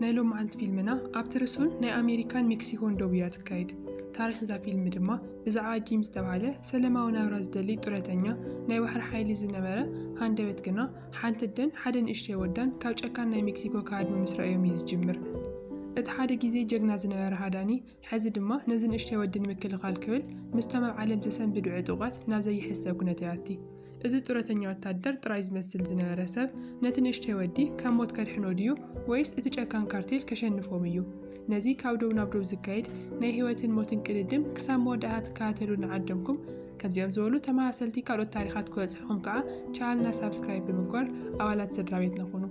ናይ ሎምዓንቲ ፊልምና ኣብ ትርሱን ናይ ኣሜሪካን ሜክሲኮን ዶብ እያ ትካየድ። ታሪኽ እዛ ፊልም ድማ ብዛዕባ ጂም ዝተብሃለ ሰለማዊ ናብራ ዝደሊ ጡረተኛ ናይ ባሕሪ ሓይሊ ዝነበረ ሃንደበት ግና ሓንቲ ኣደን ሓደ ንእሽተይ ወዳን ካብ ጨካን ናይ ሜክሲኮ ክሃድሙ ምስ ረኣዮም እዩ ዝጅምር። እቲ ሓደ ግዜ ጀግና ዝነበረ ሃዳኒ ሕዚ ድማ ነዚ ንእሽተይ ወዲ ንምክልኻል ክብል ምስቶም ኣብ ዓለም ዘሰንብዱ ዕጡቓት ናብ ዘይሕሰብ ኩነት ይኣቲ። እዚ ጡረተኛ ወታደር ጥራይ ዝመስል ዝነበረ ሰብ ነቲ ንእሽተይ ወዲ ካብ ሞት ከድሕኖ ድዩ ወይስ እቲ ጨካን ካርቴል ከሸንፎም እዩ? ነዚ ካብ ዶብ ናብ ዶብ ዝካየድ ናይ ህይወትን ሞትን ቅድድም ክሳብ መወዳእታ ትከታተሉ ንዓደምኩም ከምዚኦም ዝበሉ ተመሳሰልቲ ካልኦት ታሪኻት ክበጽሑኹም ከኣ ቻነልና ሳብስክራይብ ብምግባር ኣባላት ስድራቤትና ኩኑ።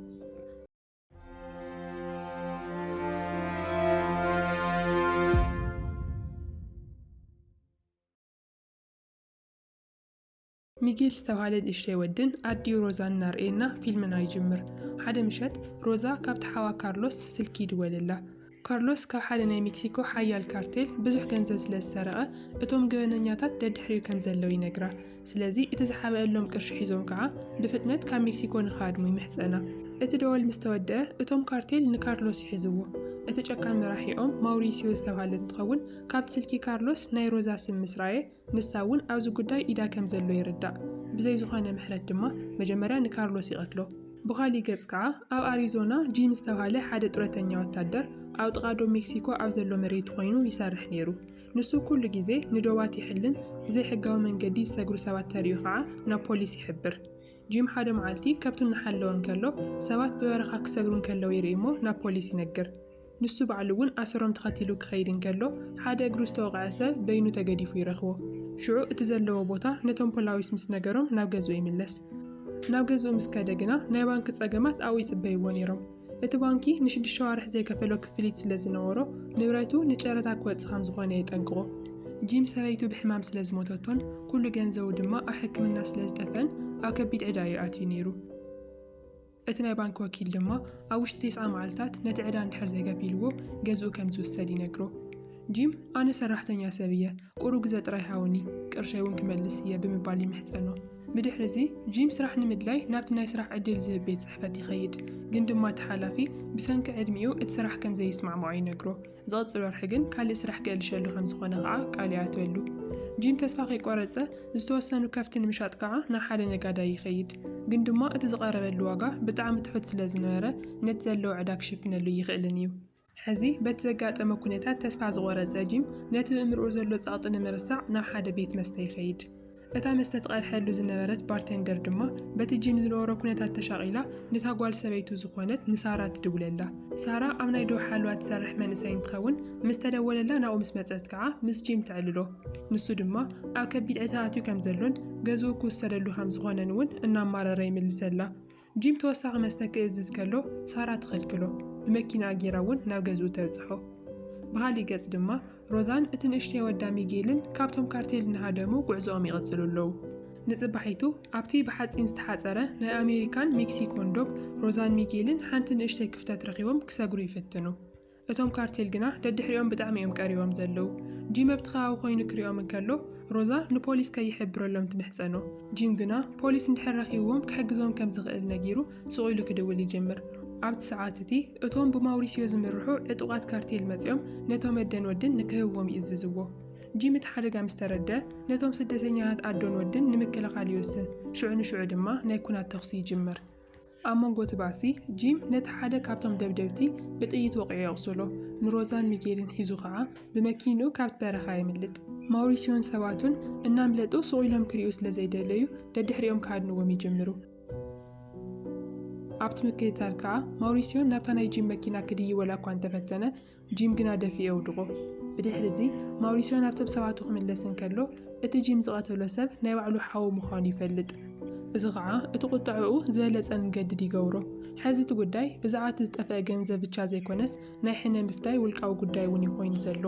ሚጌል ዝተብሃለ ንእሽተይ ወድን ኣዲኡ ሮዛን እናርኣየና ፊልምና ይጅምር። ሓደ ምሸት ሮዛ ካብቲ ሓዋ ካርሎስ ስልኪ ይድወለላ። ካርሎስ ካብ ሓደ ናይ ሜክሲኮ ሓያል ካርቴል ብዙሕ ገንዘብ ስለ ዝሰረቐ፣ እቶም ገበነኛታት ደድሕሪኡ ከም ዘለዉ ይነግራ። ስለዚ እቲ ዝሓብኣሎም ቅርሺ ሒዞም ከኣ ብፍጥነት ካብ ሜክሲኮ ንኽሃድሙ ይምሕጸና። እቲ ደወል ምስ ተወድኣ፣ እቶም ካርቴል ንካርሎስ ይሕዝዎ። እቲ ጨካን መራሒኦም ማውሪስዮ ዝተባህለ እንትኸውን፣ ካብቲ ስልኪ ካርሎስ ናይ ሮዛ ስም ምስ ረኣየ፣ ንሳ እውን ኣብዚ ጉዳይ ኢዳ ከም ዘሎ ይርዳእ። ብዘይ ዝኾነ ምሕረት ድማ መጀመርያ ንካርሎስ ይቐትሎ። ብኻሊእ ገፅ ከዓ ኣብ ኣሪዞና ጂም ዝተብሃለ ሓደ ጡረተኛ ወታደር ኣብ ጥቓ ዶብ ሜክሲኮ ኣብ ዘሎ መሬቱ ኮይኑ ይሰርሕ ነይሩ። ንሱ ኩሉ ግዜ ንዶባት ይሕልን ብዘይ ሕጋዊ መንገዲ ዝሰግሩ ሰባት ተሪኡ ከዓ ናብ ፖሊስ ይሕብር። ጂም ሓደ መዓልቲ ከብቱ እናሓለወ እንከሎ ሰባት ብበረኻ ክሰግሩ እንከለው ይርኢ እሞ ናብ ፖሊስ ይነግር። ንሱ ባዕሉ እውን ኣሰሮም ተኸቲሉ ኪኸይድ እንከሎ፣ ሓደ እግሩ ዝተወቕዐ ሰብ በይኑ ተገዲፉ ይረኽቦ። ሽዑ እቲ ዘለዎ ቦታ ነቶም ፖላዊስ ምስ ነገሮም ናብ ገዝኡ ይምለስ። ናብ ገዝኡ ምስ ከደ ግና ናይ ባንኪ ጸገማት ኣብኡ ይጽበይዎ ነይሮም። እቲ ባንኪ ንሽዱሽተ ኣዋርሕ ዘይከፈሎ ክፍሊት ስለ ዝነበሮ፣ ንብረቱ ንጨረታ ክወጽእ ከም ዝዀነ የጠንቅቖ። ጂም ሰበይቱ ብሕማም ስለ ዝሞተቶን ኵሉ ገንዘቡ ድማ ኣብ ሕክምና ስለ ዝጠፍአን ኣብ ከቢድ ዕዳ እዩ ኣትዩ ነይሩ። እቲ ናይ ባንክ ወኪል ድማ ኣብ ውሽጢ ቴስዓ መዓልታት ነቲ ዕዳ እንድሕር ዘይከፊልዎ ገዝኡ ከም ዝውሰድ ይነግሮ። ጂም ኣነ ሰራሕተኛ ሰብ እየ፣ ቁሩብ ግዘ ጥራይ ሃቡኒ፣ ቅርሸይ እውን ክመልስ እየ ብምባል ይምሕጸኖ። ብድሕሪ እዚ ጂም ስራሕ ንምድላይ ናብቲ ናይ ስራሕ ዕድል ዝህብ ቤት ጽሕፈት ይኸይድ፣ ግን ድማ እቲ ሓላፊ ብሰንኪ ዕድሚኡ እቲ ስራሕ ከም ዘይስማዕምዖ ይነግሮ። ዝቕፅል ወርሒ ግን ካሊእ ስራሕ ክእልሸሉ ከምዝኾነ ከዓ ቃል ይኣትወሉ። ጂም ተስፋ ከይቆረፀ ዝተወሰኑ ከፍቲ ንምሻጥ ከዓ ናብ ሓደ ነጋዳይ ይኸይድ። ግን ድማ እቲ ዝቐረበሉ ዋጋ ብጣዕሚ ትሑት ስለዝነበረ ነቲ ዘለዎ ዕዳ ክሽፍነሉ እይኽእልን እዩ። ሕዚ በቲ ዘጋጠመ ኩነታት ተስፋ ዝቖረፀ ጂም ነቲ ብእምርኡ ዘሎ ፀቕጢ ንምርሳዕ ናብ ሓደ ቤት መስተ ይኸይድ። እታ መስተ ትቐድሐሉ ዝነበረት ባርቴንደር ድማ በቲ ጂም ዝነበሮ ኩነታት ተሻቒላ ንታ ጓል ሰበይቱ ዝኾነት ንሳራ ትድውለላ። ሳራ ኣብ ናይ ዶብ ሓለዋ ትሰርሕ መንእሰይ እንትኸውን ምስ ተደወለላ ናብኡ ምስ መጸት ከዓ ምስ ጂም ተዕልሎ። ንሱ ድማ ኣብ ከቢድ ዕትራ ኣትዩ ከምዘሎን ገዝኡ ክውሰደሉ ከምዝኾነን እውን እናማረረ ይምልሰላ። ጂም ተወሳኺ መስተ ክእዝዝ ከሎ ሳራ ትኽልክሎ፣ ብመኪናኣ ገይራ እውን ናብ ገዝኡ ተብጽሖ። ብኻሊእ ገጽ ድማ ሮዛን እቲ ንእሽተይ ወዳ ሚጌልን ካብቶም ካርቴል እናሃደሙ ጉዕዞኦም ይቕጽሉ ኣለዉ። ንጽባሒቱ ኣብቲ ብሓጺን ዝተሓጸረ ናይ ኣሜሪካን ሜክሲኮን ዶብ ሮዛን ሚጌልን ሓንቲ ንእሽተይ ክፍተት ረኺቦም ክሰግሩ ይፍትኑ። እቶም ካርቴል ግና ደድሕሪኦም ብጣዕሚ እዮም ቀሪቦም ዘለዉ። ጂም ኣብቲ ከባቢ ኮይኑ ክሪኦም እንከሎ ሮዛ ንፖሊስ ከይሕብረሎም ትምሕጸኖ። ጂም ግና ፖሊስ እንድሕር ረኺብዎም ክሕግዞም ከም ዝኽእል ነጊሩ ሱቕ ኢሉ ክድውል ይጅምር። ኣብቲ ሰዓት እቲ እቶም ብማውሪሲዮ ዝምርሑ ዕጡቓት ካርቴል መጺኦም ነቶም ኣደን ወድን ንክህብዎም ይእዝዝዎ። ጂም እቲ ሓደጋ ምስ ተረድኣ ነቶም ስደተኛታት ኣዶን ወድን ንምክልኻል ይውስን። ሽዑ ንሽዑ ድማ ናይ ኩናት ተኹሲ ይጅምር። ኣብ መንጎ እቲ ባእሲ፣ ጂም ነቲ ሓደ ካብቶም ደብደብቲ ብጥይት ወቒዑ የቝስሎ፣ ንሮዛን ሚጌልን ሒዙ ኸኣ ብመኪንኡ ካብቲ በረኻ የምልጥ። ማውሪስዮን ሰባቱን እናምለጡ ስቕ ኢሎም ክርእዩ ስለ ዘይደለዩ ደድሕሪኦም ክሃድንዎም ይጅምሩ። ኣብቲ ምክትታል ከኣ ማውሪስዮ ናብታ ናይ ጂም መኪና ክድይብ ወላ'ኳ እንተፈተነ፣ ጂም ግና ደፊኡ የውድቖ። ብድሕርዚ፣ ማውሪስዮ ናብቶም ሰባቱ ክምለስ እንከሎ፣ እቲ ጂም ዝቐተሎ ሰብ ናይ ባዕሉ ሓው ምዃኑ ይፈልጥ። እዚ ኸኣ እቲ ቁጠዐኡ ዝበለጸ ንገድድ ይገብሮ። ሕዚ እቲ ጉዳይ ብዛዕባ እቲ ዝጠፍአ ገንዘብ ብቻ ዘይኮነስ ናይ ሕነ ምፍዳይ ውልቃዊ ጉዳይ እውን እዩ ኮይኑ ዘሎ።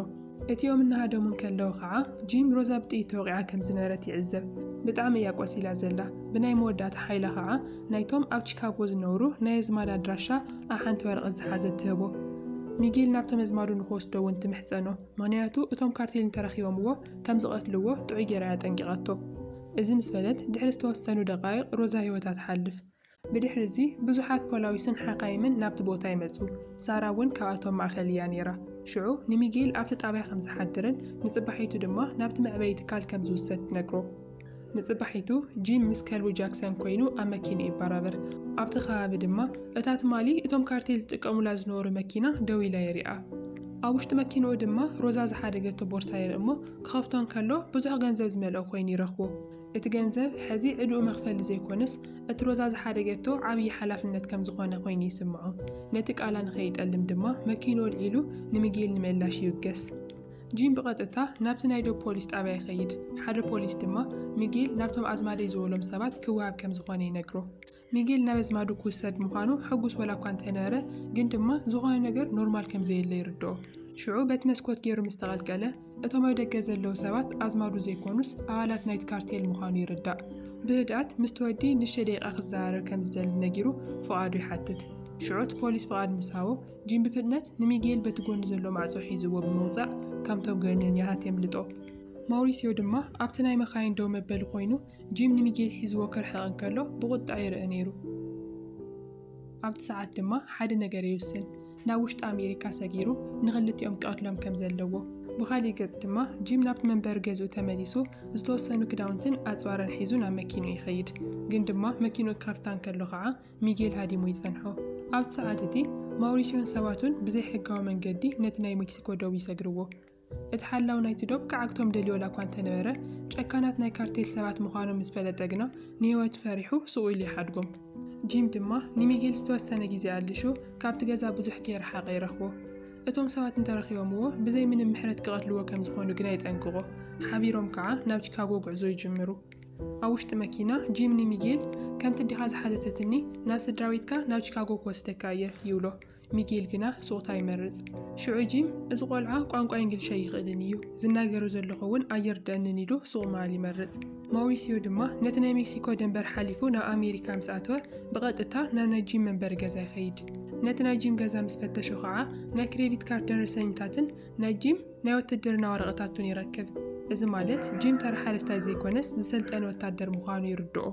እቲኦም እናሃደሙ እንከለዉ ኸኣ ጂም ሮዛ ብጥይት ተወቒዓ ከም ዝነበረት ይዕዘብ። ብጣዕሚ እያ ቆሲላ ዘላ። ብናይ መወዳእታ ሓይላ ኸኣ ናይቶም ኣብ ቺካጎ ዝነብሩ ናይ ኣዝማድ ኣድራሻ ኣብ ሓንቲ ወረቐት ዝሓዘት ትህቦ። ሚጊል ናብቶም ኣዝማዱ ንኽወስዶ እውን ትምሕጸኖ፣ ምኽንያቱ እቶም ካርቴል እንተረኺቦምዎ ከም ዝቐትልዎ ጥዑይ ገይራ እያ ኣጠንቂቓቶ። እዚ ምስ በለት ድሕሪ ዝተወሰኑ ደቓይቕ ሮዛ ህይወታ ትሓልፍ። ብድሕሪ እዚ ብዙሓት ፖላዊስን ሓካይምን ናብቲ ቦታ ይመጹ፣ ሳራ እውን ካብኣቶም ማእከል እያ ነይራ። ሽዑ ንሚጊል ኣብቲ ጣብያ ከም ዝሓድርን ንጽባሒቱ ድማ ናብቲ መዕበዪ ትካል ከም ዝውሰድ ትነግሮ። ንጽባሒቱ ጂም ምስ ከልቡ ጃክሰን ኮይኑ ኣብ መኪንኡ ይበራበር። ኣብቲ ከባቢ ድማ እታ ትማሊ እቶም ካርቴል ዝጥቀሙላ ዝነበሩ መኪና ደው ኢላ የሪኣ። ኣብ ውሽጢ መኪንኡ ድማ ሮዛ ዝሓደገቶ ቦርሳ ይርኢ እሞ ክኸፍቶ እንከሎ ብዙሕ ገንዘብ ዝመልኦ ኮይኑ ይረኽቦ። እቲ ገንዘብ ሕዚ ዕድኡ መኽፈሊ ዘይኮነስ እቲ ሮዛ ዝሓደገቶ ዓብዪ ሓላፍነት ከም ዝኾነ ኮይኑ ይስምዖ። ነቲ ቃላ ንኸይጠልም ድማ መኪንኡ ኣልዒሉ ንሚጌል ንምእላሽ ይብገስ። ጂም ብቐጥታ ናብቲ ናይ ዶብ ፖሊስ ጣብያ ይኸይድ፣ ሓደ ፖሊስ ድማ ሚጌል ናብቶም ኣዝማደይ ዝበሎም ሰባት ክወሃብ ከም ዝዀነ ይነግሮ። ሚጌል ናብ ኣዝማዱ ክውሰድ ምዃኑ ሕጉስ ወላ እኳ እንተ ነበረ፣ ግን ድማ ዝዀነ ነገር ኖርማል ከም ዘየለ ይርድኦ። ሽዑ በቲ መስኮት ገይሩ ምስ ተቐልቀለ፣ እቶም ኣብ ደገ ዘለዉ ሰባት ኣዝማዱ ዘይኰኑስ ኣባላት ናይቲ ካርቴል ምዃኑ ይርዳእ። ብህድኣት ምስቲ ወዲ ንእሽተይ ደቂቓ ክዘራረብ ከም ዝደሊ ነጊሩ ፍቓዱ ይሓትት። ሽዑ እቲ ፖሊስ ፍቓድ ምስ ሃቦ፣ ጂም ብፍጥነት ንሚጌል በቲ ጎኒ ዘሎ ማዕጾ ሒዝዎ ብምውጻእ ካብ ቶብገርንን ያሃት የምልጦ። ማውሪስዮ ድማ ኣብቲ ናይ መኻይን ደው መበሊ ኮይኑ ጂም ንሚጌል ሒዝዎ ክርሕቕ እንከሎ ብቑጥዐ ይርእ ነይሩ። ኣብቲ ሰዓት ድማ ሓደ ነገር ይውስን። ናብ ውሽጢ ኣሜሪካ ሰጊሩ ንኽልቲኦም ክቐትሎም ከም ዘለዎ። ብኻሊእ ገጽ ድማ ጂም ናብቲ መንበሪ ገዝኡ ተመሊሱ ዝተወሰኑ ክዳውንትን ኣጽዋርን ሒዙ ናብ መኪንኡ ይኸይድ። ግን ድማ መኪንኡ ክኸፍታ እንከሎ ኸኣ ሚጌል ሃዲሙ ይጸንሖ። ኣብቲ ሰዓት እቲ፣ ማውሪስዮን ሰባቱን ብዘይ ሕጋዊ መንገዲ ነቲ ናይ ሜክሲኮ ዶብ ይሰግርዎ። እቲ ሓላው ናይቲ ዶብ ክዓግቶም ደልዮ ዋላ እኳ እንተ ነበረ፣ ጨካናት ናይ ካርቴል ሰባት ምዃኖም ምስ ፈለጠ ግና ንህይወቱ ፈሪሑ ሱቕ ኢሉ ይሓድጎም። ጂም ድማ ንሚጌል ዝተወሰነ ግዜ ኣልሹ ካብቲ ገዛ ብዙሕ ከይረሓቐ ይረኽቦ። እቶም ሰባት እንተ ረኺቦምዎ ብዘይ ምንም ምሕረት ክቐትልዎ ከም ዝዀኑ ግና የጠንቅቖ። ሓቢሮም ከኣ ናብ ቺካጎ ጕዕዞ ይጅምሩ። ኣብ ውሽጢ መኪና ጂም ንሚጌል ከምቲ ኣዴኻ ዝሓተተትኒ ናብ ስድራቤትካ ናብ ቺካጎ ክወስደካ እየ ይብሎ። ሚጌል ግና ሱቕታ ይመርጽ። ሽዑ ጂም እዚ ቆልዓ ቋንቋ ኢንግሊሽ ኣይኽእልን እዩ፣ ዝናገሮ ዘለኹ እውን ኣየርድኣንን ኢሉ ሱቕ ምባል ይመርጽ። ማውሪሲዮ ድማ ነቲ ናይ ሜክሲኮ ደንበር ሓሊፉ ናብ ኣሜሪካ ምስ ኣተወ ብቐጥታ ናብ ናይ ጂም መንበሪ ገዛ ይኸይድ። ነቲ ናይ ጂም ገዛ ምስ ፈተሾ ኸዓ ናይ ክሬዲት ካርድ ደረሰኝታትን ነጂም ናይ ወትህድርና ወረቐታቱን ይረክብ። እዚ ማለት ጂም ተራ ሓረስታይ ዘይኮነስ ዝሰልጠነ ወታደር ምዃኑ ይርድኦ።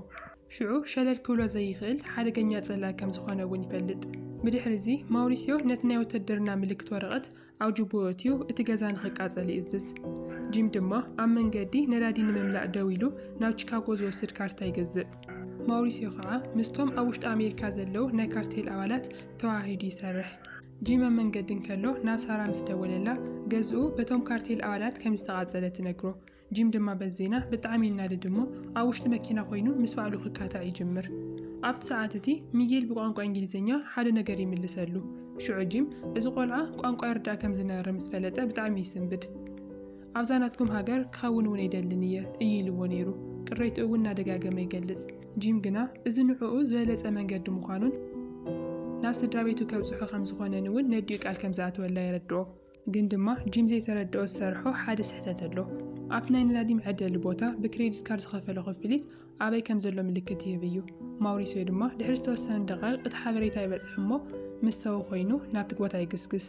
ሽዑ ሸለል ክብሎ ዘይኽእል ሓደገኛ ጸላኢ ከም ዝኾነ እውን ይፈልጥ። ብድሕሪዚ ማውሪስዮ ነቲ ናይ ወትህድርና ምልክት ወረቐት ኣብ ጁቡኡ ኣእትዩ እቲ ገዛ ንኽቃጸል ይእዝዝ። ጂም ድማ ኣብ መንገዲ ነዳዲ ንምምላእ ደው ኢሉ ናብ ቺካጎ ዝወስድ ካርታ ይገዝእ። ማውሪስዮ ከኣ ምስቶም ኣብ ውሽጢ ኣሜሪካ ዘለዉ ናይ ካርቴል ኣባላት ተወሃሂዱ ይሰርሕ። ጂማ መንገዲ እንከሎ ናብ ሳራ ምስ ደወለላ፣ ገዝኡ በቶም ካርቴል ኣባላት ከም ዝተቓጸለ ትነግሮ። ጂም ድማ በዚ ዜና ብጣዕሚ ይናደድ እሞ ኣብ ውሽጢ መኪና ኮይኑ ምስ ባዕሉ ክካታዕ ይጅምር። ኣብቲ ሰዓት እቲ ሚጌል ብቋንቋ እንግሊዝኛ ሓደ ነገር ይምልሰሉ። ሽዑ ጂም እዚ ቆልዓ ቋንቋ ይርዳእ ከም ዝነበረ ምስ ፈለጠ ብጣዕሚ ይስንብድ። ኣብዛ ናትኩም ሃገር ክኸውን እውን ኣይደልን እየ እዩ ኢልዎ ነይሩ። ቅሬትኡ እውን እናደጋገመ ይገልጽ። ጂም ግና እዚ ንዕኡ ዝበለጸ መንገዲ ምዃኑን ናብ ስድራቤቱ ከብጽሖ ከም ዝኾነን እውን ነዲኡ ቃል ከም ዝኣተወላ የረድኦ። ግን ድማ ጂም ዘይተረድኦ ዝሰርሖ ሓደ ስሕተት ኣሎ። ኣብቲ ናይ ነዳዲ መዐደሊ ቦታ ብክሬዲት ካርድ ዝኸፈሎ ክፍሊት ኣበይ ከም ዘሎ ምልክት ይህብ እዩ። ማውሪስዮ ድማ ድሕሪ ዝተወሰኑ ደቓይቕ እቲ ሓበሬታ ይበጽሕ እሞ ምስ ሰው ኮይኑ ናብቲ ቦታ ይግስግስ።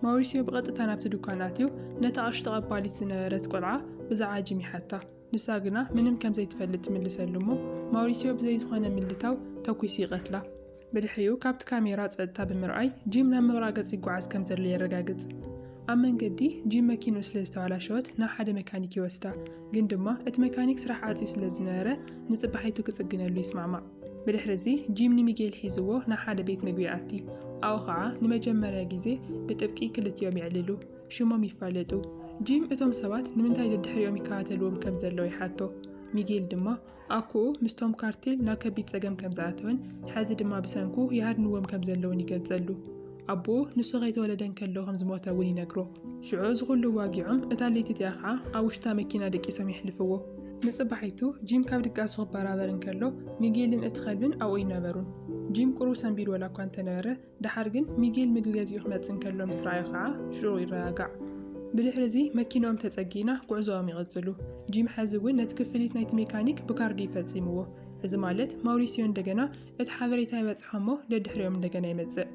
ማውሪስዮ ብቐጥታ ናብቲ ድኳን ኣትዩ ነታ ቅርሺ ተቐባሊት ዝነበረት ቆልዓ ብዛዕባ ጂም ይሓታ። ንሳ ግና ምንም ከም ዘይትፈልጥ ትምልሰሉ እሞ ማውሪስዮ ብዘይ ዝኾነ ምልታው ተኲሱ ይቐትላ። ብድሕሪኡ ካብቲ ካሜራ ጸጥታ ብምርኣይ ጂም ናብ ምቕራእ ገጽ ይጓዓዝ ከም ዘሎ የረጋግጽ። ኣብ መንገዲ ጂም መኪንኡ ስለ ዝተባላሸወት ናብ ሓደ መካኒክ ይወስዳ፣ ግን ድማ እቲ መካኒክ ስራሕ ዓጽዩ ስለ ዝነበረ ንጽባሒቱ ክጽግነሉ ይስማዕማዕ። ብድሕሪ እዚ ጂም ንሚጌል ሒዝዎ ናብ ሓደ ቤት ምግቢ ይኣቲ፣ ኣብኡ ኸኣ ንመጀመርያ ግዜ ብጥብቂ ክልቲኦም የዕልሉ፣ ሽሞም ይፋለጡ። ጂም እቶም ሰባት ንምንታይ ደድሕሪኦም ይከታተልዎም ከም ዘለዉ ይሓቶ፣ ሚጌል ድማ ኣኮኡ ምስቶም ካርቴል ናብ ከቢድ ጸገም ከም ዝኣተወን ሕዚ ድማ ብሰንኩ ይሃድንዎም ከም ዘለዉን ይገልጸሉ። ኣቦኡ ንሱ ከይተወለደ እንከሎ ከም ዝሞተ እውን ይነግሮ። ሽዑ እዚ ዅሉ ዋጊዖም እታ ለይቲ እቲኣ ኸኣ ኣብ ውሽታ መኪና ደቂሶም የሕልፍዎ። ንጽባሒቱ ጂም ካብ ድቃሱ ክበራበር እንከሎ ሚጌልን እቲ ከልብን ኣብኡ ኣይነበሩን። ጂም ቍሩብ ሰንቢዱ ዋላ እኳ እንተ ነበረ፣ ደሓር ግን ሚጌል ምግቢ ገዚኡ ክመጽእ እንከሎ ምስ ረኣዮ ከኣ ሽዑኡ ይረጋጋዕ። ብድሕሪ'ዚ መኪንኦም ተጸጊና ጉዕዞኦም ይቕጽሉ። ጂም ሕዚ እውን ነቲ ክፍሊት ናይቲ ሜካኒክ ብካርዲ እዩ ፈጺምዎ። እዚ ማለት ማውሪስዮ እንደገና እቲ ሓበሬታ ይበጽሖ እሞ ደድሕሪኦም እንደገና ይመጽእ።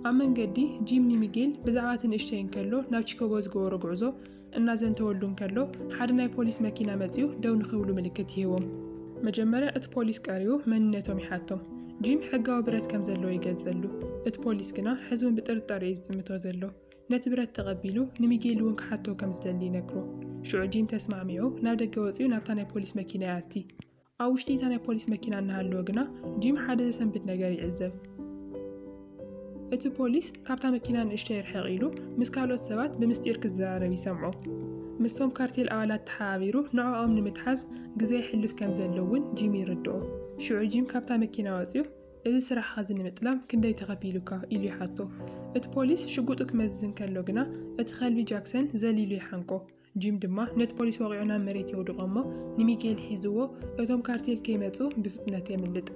ኣብ መንገዲ ጂም ንሚጌል ብዛዕባ እቲ ንእሽተይ እንከሎ ናብ ቺኮጎ ዝገበሮ ጉዕዞ እናዘንተወሉ እንከሎ ሓደ ናይ ፖሊስ መኪና መጺኡ ደው ንኽብሉ ምልክት ይህቦም። መጀመርያ እቲ ፖሊስ ቀሪቡ መንነቶም ይሓቶም። ጂም ሕጋዊ ብረት ከም ዘለዎ ይገልጸሉ። እቲ ፖሊስ ግና ሕዚ እውን ብጥርጣረ እዩ ዝጥምቶ ዘሎ። ነቲ ብረት ተቐቢሉ ንሚጌል እውን ክሓቶ ከም ዝደሊ ይነግሮ። ሽዑ ጂም ተስማዕሚዑ ናብ ደገ ወጺኡ ናብታ ናይ ፖሊስ መኪና ይኣቲ። ኣብ ውሽጢ እታ ናይ ፖሊስ መኪና እናሃለወ ግና ጂም ሓደ ዘሰንብድ ነገር ይዕዘብ። እቲ ፖሊስ ካብታ መኪና ንእሽተይ ርሕቕ ኢሉ ምስ ካልኦት ሰባት ብምስጢር ክዘራረብ ይሰምዖ። ምስቶም ካርቴል ኣባላት ተሓባቢሩ ንዕኦም ንምትሓዝ ግዘ የሕልፍ ከም ዘሎ እውን ጂም ይርድኦ። ሽዑ ጂም ካብታ መኪና ወፂኡ እዚ ስራሕኻ እዚ ንምጥላም ክንደይ ተኸፊሉካ? ኢሉ ይሓቶ። እቲ ፖሊስ ሽጉጡ ክመዝዝ እንከሎ ግና እቲ ከልቢ ጃክሰን ዘሊሉ ይሓንቆ። ጂም ድማ ነቲ ፖሊስ ወቒዑ ናብ መሬት የውድቖ እሞ ንሚጌል ሒዝዎ እቶም ካርቴል ከይመጹ ብፍጥነት የምልጥ።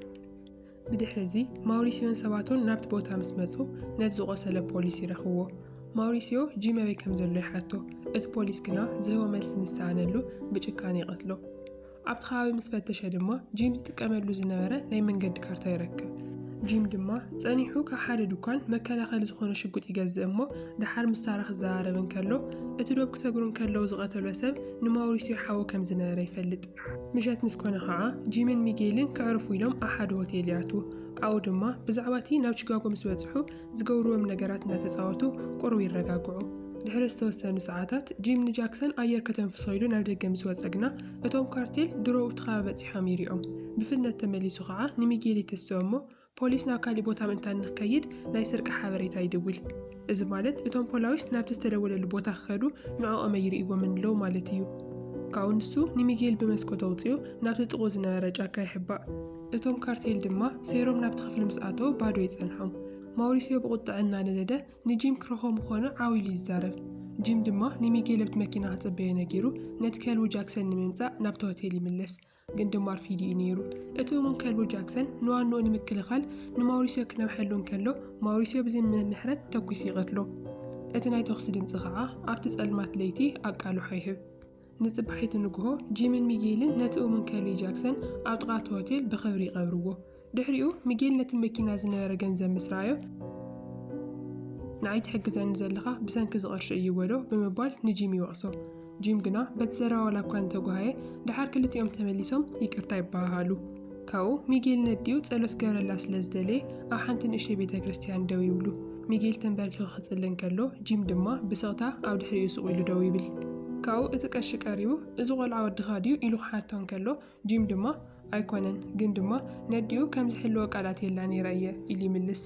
ብድሕሪ እዚ ማውሪሲዮን ሰባቱን ናብቲ ቦታ ምስ መጹ ነቲ ዝቖሰለ ፖሊስ ይረኽብዎ። ማውሪሲዮ ጂም ኣበይ ከም ዘሎ ይሓቶ፣ እቲ ፖሊስ ግና ዝህቦ መልሲ ምስ ሰኣነሉ ብጭካነ ይቐትሎ። ኣብቲ ከባቢ ምስ ፈተሸ ድማ ጂም ዝጥቀመሉ ዝነበረ ናይ መንገዲ ካርታ ይረክብ። ጂም ድማ ጸኒሑ ካብ ሓደ ድኳን መከላኸሊ ዝኾነ ሽጉጥ ይገዝእ እሞ ደሓር ምስ ሳራ ክዘራረብ እንከሎ እቲ ዶብ ክሰግሩ እንከለዉ ዝቐተሎ ሰብ ንማውሪስዮ ሓዉ ከም ዝነበረ ይፈልጥ። ምሸት ምስ ኮነ ኸኣ ጂምን ሚጌልን ከዕርፉ ኢሎም ኣብ ሓደ ሆቴል ይኣትዉ። ኣብኡ ድማ ብዛዕባ እቲ ናብ ቺካጎ ምስ በጽሑ ዝገብርዎም ነገራት እናተጻወቱ ቁሩብ ይረጋግዑ። ድሕሪ ዝተወሰኑ ሰዓታት፣ ጂም ንጃክሰን ኣየር ከተንፍሶ ኢሉ ናብ ደገ ምስ ወጸ ግና፣ እቶም ካርቴል ድሮ ኣብቲ ከባቢ በጺሖም ይሪኦም። ብፍጥነት ተመሊሱ ኸኣ ንሚጌል ይትስኦ እሞ፣ ፖሊስ ናብ ካሊእ ቦታ ምእንታን ንክከይድ ናይ ስርቂ ሓበሬታ ይድውል። እዚ ማለት እቶም ፖላዊስ ናብቲ ዝተደወለሉ ቦታ ክከዱ ንዕኦም ኣይሪእዎምን ኣለዉ ማለት እዩ። ካብኡ ንሱ ንሚጌል ብመስኮት ኣውጺኡ ናብቲ ጥቕኡ ዝነበረ ጫካ ይሕባእ። እቶም ካርቴል ድማ ሰይሮም ናብቲ ክፍሊ ምስ ኣተዉ ባዶ ይጸንሖም። ማውሪሲዮ ብቝጥዐ እናነደደ ንጂም ክረኽቦ ምዃኑ ዓው ኢሉ ይዛረብ። ጂም ድማ ንሚጌልኣብቲ መኪና ክጽበዮ ነጊሩ ነቲ ከልቡ ጃክሰን ንምምጻእ ናብቲ ሆቴል ይምለስ። ግን ድማ ኣርፊዱ እዩ ነይሩ። እቲ እሙን ከልቡ ጃክሰን ንዋንኡ ንምክልኻል ንማውሪሲዮ ክነውሐሉ እንከሎ ማውሪሲዮ ብዝምም ምሕረት ተኲሱ ይቐትሎ። እቲ ናይ ተዅሲ ድምጺ ኸኣ ኣብቲ ጸልማት ለይቲ ኣቃልሖ ይህብ። ንጽባሒቱ ንግሆ፣ ጂምን ሚጌልን ነቲ እሙን ከሊ ጃክሰን ኣብ ጥቓ እቲ ሆቴል ብኽብሪ ይቐብርዎ። ድሕሪኡ፣ ሚጌል ነቲ መኪና ዝነበረ ገንዘብ ምስ ረኣዮ፣ ንዓይ ትሕግዘኒ ዘለኻ ብሰንኪ እዚ ቅርሺ እዩ በሎ ብምባል ንጂም ይወቕሶ። ጂም ግና በቲ ዘረባ ዋላ እኳ እንተጓሃየ፣ ደሓር ክልቲኦም ተመሊሶም ይቅርታ ይበሃሃሉ። ካብኡ ሚጌል ነዲኡ ጸሎት ክገብረላ ስለ ዝደለየ ኣብ ሓንቲ ንእሽተይ ቤተ ክርስትያን ደው ይብሉ። ሚጌል ተንበርኪኹ ክጽሊ እንከሎ ጂም ድማ ብስቕታ ኣብ ድሕሪኡ ሱቕ ኢሉ ደው ይብል። ካብኡ እቲ ቀሺ ቀሪቡ እዚ ቆልዓ ወድኻ ድዩ ኢሉ ክሓቶ እንከሎ ጂም ድማ ኣይኮነን ግን ድማ ነዲኡ ከም ዝሕልዎ ቃል ኣትየላ ነይረ እየ ኢሉ ይምልስ።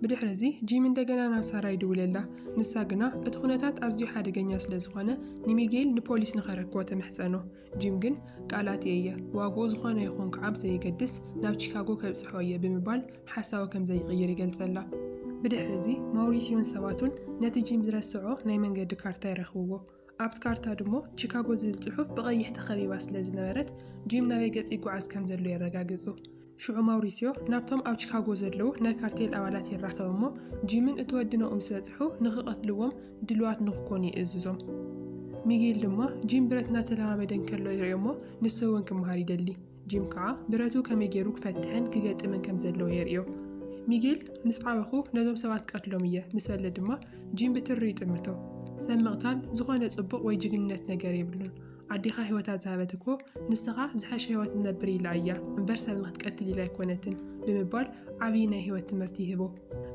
ብድሕሪ እዚ ጂም እንደገና ናብ ሳራ ይድውለላ። ንሳ ግና እቲ ኩነታት ኣዝዩ ሓደገኛ ስለ ዝኾነ ንሚጌል ንፖሊስ ንኸረክቦ ተምሕጸኖ። ጂም ግን ቃላተይ እየ፣ ዋግኡ ዝዀነ ይኹን ክዓብ ዘየገድስ ናብ ቺካጎ ከብጽሖ እየ ብምባል ሓሳቡ ከም ዘይቕይር ይገልጸላ። ብድሕሪ እዚ፣ ማውሪስዮን ሰባቱን ነቲ ጂም ዝረስዖ ናይ መንገዲ ካርታ ይረኽብዎ። ኣብቲ ካርታ ድሞ ቺካጎ ዝብል ጽሑፍ ብቐይሕ ተኸቢባ ስለ ዝነበረት፣ ጂም ናበይ ገጽ ይጓዓዝ ከም ዘሎ የረጋግጹ። ሽዑ ማውሪስዮ ናብቶም ኣብ ቺካጎ ዘለዉ ናይ ካርቴል ኣባላት ይራኸብ እሞ ጂምን እቲ ወዲ ናኦም ዝበጽሑ ንኽቐትልዎም ድሉዋት ንኽኮኑ ይእዝዞም። ሚጌል ድማ ጂም ብረት እናተለማመደ እንከሎ ይርእዮ'ሞ ንሱ'ውን ክመሃር ይደሊ። ጂም ከኣ ብረቱ ከመይ ገይሩ ክፈትሕን ክገጥምን ከም ዘለዎ የርእዮ። ሚጌል ምስ ዓበኹ ነዞም ሰባት ክቐትሎም እየ ምስ በለ ድማ ጂም ብትሪ ይጥምቶ። ሰብ ምቕታል ዝኾነ ጽቡቕ ወይ ጅግንነት ነገር የብሉን። ኣዴኻ ህይወታ ዝሃበት እኮ ንስኻ ዝሐሸ ህይወት ንነብር ኢላ እያ እምበር ሰብ ንክትቀትል ኢላ ኣይኮነትን ብምባል ዓብዪ ናይ ህይወት ትምህርቲ ይህቦ።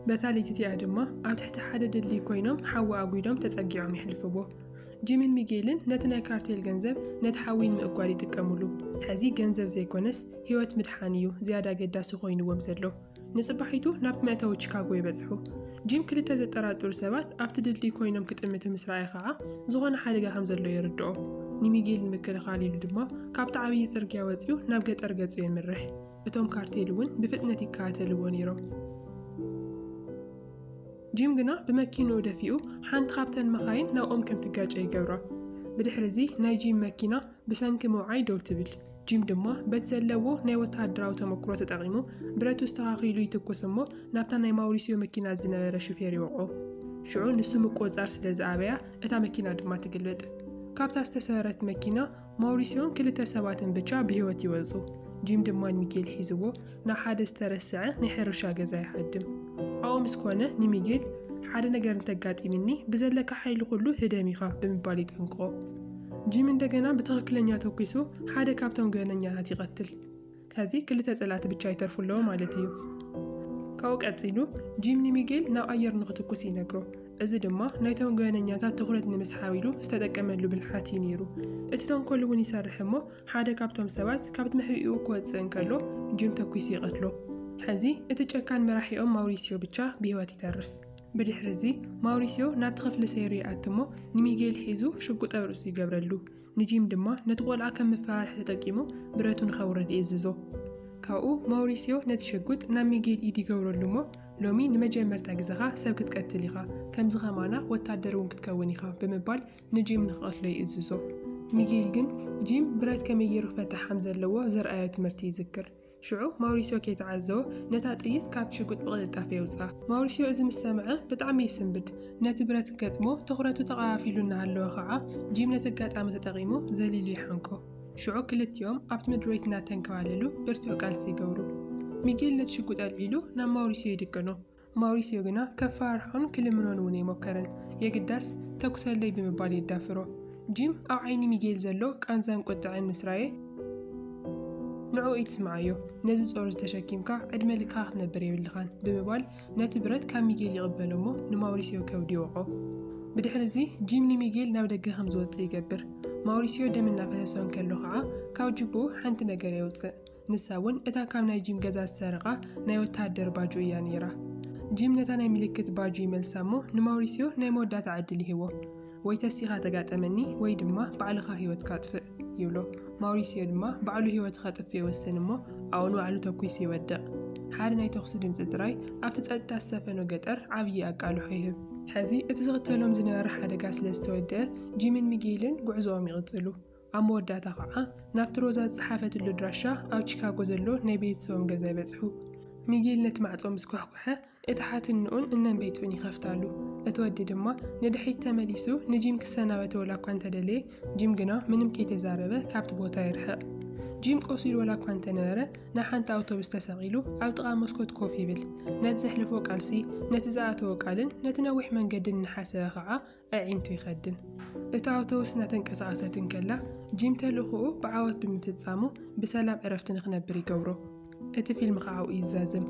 በታ ለይቲ እቲኣ ድማ ኣብ ትሕቲ ሓደ ድልድል ኮይኖም ሓዊ ኣጒዶም ተጸጊዖም የሕልፍዎ። ጂምን ሚጌልን ነቲ ናይ ካርቴል ገንዘብ ነቲ ሓዊ ንምእጓድ ይጥቀሙሉ። ሕዚ ገንዘብ ዘይኮነስ ህይወት ምድሓን እዩ ዝያዳ ኣገዳሲ ኮይንዎም ዘሎ። ንጽባሒቱ ናብ መእተዊ ቺካጎ ይበጽሑ። ጂም ክልተ ዘጠራጥሩ ሰባት ኣብቲ ድልድል ኰይኖም ክጥምቱ ምስ ረኣየ ኸኣ ዝዀነ ሓደጋ ከም ዘሎ የርድኦ። ንሚጌል ንምክልኻል ኢሉ ድማ ካብቲ ዓብዪ ጽርግያ ወጺኡ ናብ ገጠር ገጹ የምርሕ። እቶም ካርቴል እውን ብፍጥነት ይከታተልዎ ነይሮም። ጂም ግና ብመኪንኡ ደፊኡ ሓንቲ ካብተን መኻይን ናብኦም ከም ትጋጨ ይገብራ። ብድሕርዚ ናይ ጂም መኪና ብሰንኪ ምውዓይ ደው ትብል። ጂም ድማ በቲ ዘለዎ ናይ ወተሃደራዊ ተመክሮ ተጠቒሙ ብረቱ ኣስተኻኺሉ ይትኩስ እሞ ናብታ ናይ ማውሪስዮ መኪና ዝነበረ ሹፌር ይወቕዖ። ሽዑ ንሱ ምቁጽጻር ስለ ዝኣበያ እታ መኪና ድማ ትግልብጥ። ካብታ ዝተሰበረት መኪና ማውሪስዮን ክልተ ሰባትን ብቻ ብህይወት ይወጹ። ጂም ድማ ንሚጌል ሒዝዎ ንሓደ ዝተረስዐ ናይ ሕርሻ ገዛ ይሃድም። ኣብኡ ምስ ኮነ ንሚጌል ሓደ ነገር እንተጋጢምኒ ብዘለካ ሓይሊ ኩሉ ህደም ኢኻ ብምባል ይጠንቅቖ። ጂም እንደገና ብትኽክለኛ ተኩሱ ሓደ ካብቶም ገበነኛታት ይቐትል። ከዚ ክልተ ጸላእቲ ብቻ ይተርፉ ኣለዎ ማለት እዩ። ካብኡ ቀጺሉ ጂም ንሚጌል ናብ ኣየር ንኽትኩስ ይነግሮ። እዚ ድማ ናይቶም ገበነኛታት ትኹረት ንምስሓብ ኢሉ ዝተጠቀመሉ ብልሓት እዩ ነይሩ። እቲ ተንኮል እውን ይሰርሕ እሞ ሓደ ካብቶም ሰባት ካብ መሕብኢኡ ክወጽእ እንከሎ ጂም ተኲሱ ይቐትሎ። ሕዚ እቲ ጨካን መራሒኦም ማውሪሲዮ ብቻ ብህይወት ይተርፍ። ብድሕሪ እዚ ማውሪሲዮ ናብቲ ክፍሊ ሰይሩ ይኣቲ እሞ ንሚጌል ሒዙ ሽጉጥ ኣብ ርእሱ ይገብረሉ። ንጂም ድማ ነቲ ቆልዓ ከም መፈራርሒ ተጠቂሙ ብረቱ ንከውርድ ይእዝዞ። ካብኡ ማውሪሲዮ ነቲ ሽጉጥ ናብ ሚጌል ኢድ ይገብረሉ እሞ ሎሚ ንመጀመርታ ግዘኻ ሰብ ክትቀትል ኢኻ፣ ከምዚ ከማና ወታደር እውን ክትከውን ኢኻ ብምባል ንጂም ንኽቐትሎ ይእዝዞ። ሚጊል ግን ጂም ብረት ከመይ ገይሩ ክፈትሕ ከም ዘለዎ ዘርኣዮ ትምህርቲ ይዝክር። ሽዑ ማውሪስዮ ከይተዓዘቦ ነታ ጥይት ካብቲ ሽጉጥ ብቕልጣፈ የውጽኣ። ማውሪስዮ እዚ ምስ ሰምዐ ብጣዕሚ ይስንብድ። ነቲ ብረት ክገጥሞ ትኹረቱ ተቐፋፊሉ እናሃለወ ኸኣ ጂም ነቲ ኣጋጣሚ ተጠቒሙ ዘሊሉ ይሓንቆ። ሽዑ ክልቲኦም ኣብቲ ምድርቤት እናተንከባለሉ ብርቱዕ ቃልሲ ይገብሩ። ሚጊል ነቲ ሽጉጥ ኣልዒሉ ናብ ማውሪስዮ ይድቅኖ። ማውሪስዮ ግና ከፈራርሖን ክልምኖን እውን ኣይሞከረን። የግዳስ ተኵሰለይ ብምባል የዳፍሮ። ጂም ኣብ ዓይኒ ሚጌል ዘሎ ቃንዛን ቍጥዐን ምስ ረኣየ፣ ንዕኡ ኣይትስምዓዮ፣ ነዚ ጾር እዚ ተሸኪምካ ዕድመ ልክኻ ክትነብር የብልካን ብምባል ነቲ ብረት ካብ ሚጌል ይቕበሎ እሞ ንማውሪስዮ ከብዱ ይወቕዖ። ብድሕሪ እዚ ጂም ንሚጌል ናብ ደገ ከም ዝወጽእ ይገብር። ማውሪስዮ ደም እናፈሰሶ እንከሎ ከኣ ካብ ጁቡኡ ሓንቲ ነገር የውጽእ። ንሳ እውን እታ ካብ ናይ ጂም ገዛ ዝሰረቓ ናይ ወተሃደር ባጁ እያ ነይራ። ጂም ነታ ናይ ምልክት ባጁ ይመልሳ እሞ ንማውሪስዮ ናይ መወዳእታ ዕድል ይህቦ። ወይ ተሲኻ ተጋጠመኒ ወይ ድማ ባዕልኻ ህይወትካ ኣጥፍእ ይብሎ። ማውሪስዮ ድማ ባዕሉ ህይወቱ ከጥፍእ ይወስን እሞ ኣብኡ ንባዕሉ ተኲሱ ይወድቕ። ሓደ ናይ ተኹሲ ድምጺ ጥራይ ኣብቲ ጸጥታ ዝሰፈኖ ገጠር ዓብዪ ኣቃልሖ ይህብ። ሕዚ እቲ ዝኽተሎም ዝነበረ ሓደጋ ስለ ዝተወድኣ ጂምን ሚጌይልን ጉዕዞኦም ይቕጽሉ። ኣብ መወዳእታ ኸኣ ናብቲ ሮዛ ዝጸሓፈትሉ ኣድራሻ ኣብ ቺካጎ ዘሎ ናይ ቤተሰቦም ገዛ ይበጽሑ። ሚጊል ነቲ ማዕጾ ምስ ኳሕኩሐ፣ እቲ ሓትንኡን እነን ቤቱን ይኸፍታሉ። እቲ ወዲ ድማ ንድሕሪት ተመሊሱ ንጂም ክሰናበቶ ወላ እኳ እንተ ደለየ፣ ጂም ግና ምንም ከይተዛረበ ካብቲ ቦታ ይርሕቕ። ጂም ቆሲሉ ወላ እኳ እንተ ነበረ፣ ናብ ሓንቲ ኣውቶቡስ ተሰቒሉ ኣብ ጥቓ መስኮት ኮፍ ይብል። ነቲ ዘሕለፎ ቃልሲ፣ ነቲ ዝኣተዎ ቃልን ነቲ ነዊሕ መንገድን እናሓሰበ ኸኣ ኣዒንቱ ይኸድን። እታ ኣውቶቡስ እናተንቀሳቐሰት እንከላ፣ ጂም ተልእኾኡ ብዓወት ብምፍጻሙ ብሰላም ዕረፍቲ ንኽነብር ይገብሮ። እቲ ፊልም ኸኣ ኣብኡ ይዛዘም።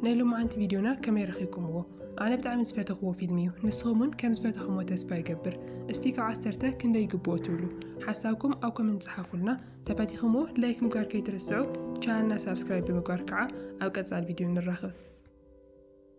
ናይ ሎማዓንቲ ቪድዮና ከመይ ረኺብኩምዎ? ኣነ ብጣዕሚ ዝፈተኽዎ ፊልም እዩ። ንስኹም እውን ከም ዝፈተኹምዎ ተስፋ ይገብር። እስቲ ካብ ዓሰርተ ክንደይ ይግብኦ ትብሉ? ሓሳብኩም ኣብ ኮመንት ጸሓፉልና። ተፈቲኽምዎ ላይክ ምግባር ከይትርስዑ፣ ቻነልና ሳብስክራይብ ብምግባር ከዓ ኣብ ቀጻሊ ቪድዮ ንራኸብ።